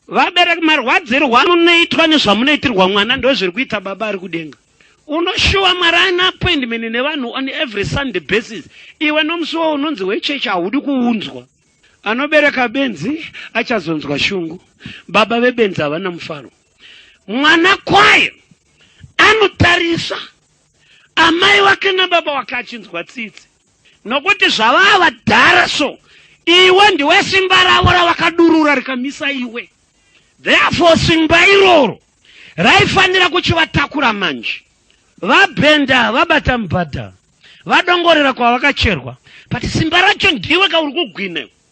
Vabereki marwadzirwa munoitwa nezvamunoitirwa mwana ndozviri kuita baba ari kudenga. Unoshuwa Mwari ana appointment nevanhu on every Sunday basis. Iwe nomusi wo unonzi wechechi haudi kuunzwa. Anobereka benzi achazonzwa shungu. Baba vebenzi havana mufaro. Mwana kwaye anotarisa amai wake nababa wake achinzwa tsitsi. Nokuti zvavava vadhara so, iwe ndiwe simba ravo ravakadurura rikamisa iwe. Therefore simba iroro raifanira kuchivatakura manje. Vabhenda vabata mubhadha, vadongorera kwavakacherwa. But simba racho ndiwe ka uri kugwina iwe.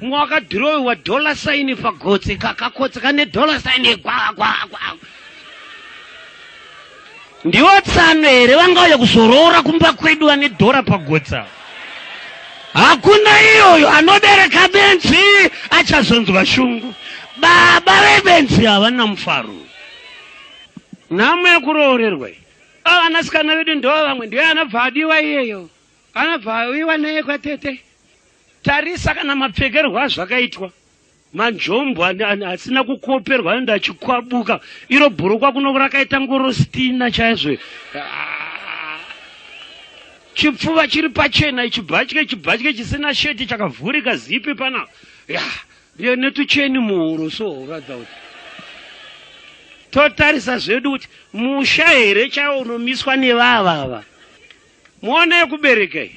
Mumwe wakadhirowewa dollar sign pagotsi kakakotsi kane dollar sign yegwagwagwa. Ndiwo tsano here vangauya kuzoroora kumba kwedu vane dhora pagotsa? Hakuna iyoyo anobereka benzi achazonzwa shungu. Baba vebenzi havana mufaro. Nhamo yekuroorerwa iyi. Vana sikana vedu ndoo vamwe ndiye anabva adiwa iyeyo. Anabva awiwa naye kwatete. Tarisa kana mapfekerwo azvakaitwa manjombo asina kukoperwa enda achikwabuka iro bhurukwa kuno rakaita ngorostina chaizvo ah. chipfuva chiri pachena ichibhatye chibhatye chisina sheti chakavhurika zipi pana ya netucheni muhuro so ratha kuti totarisa zvedu kuti musha here chaiwo unomiswa nevavava muona yekuberekai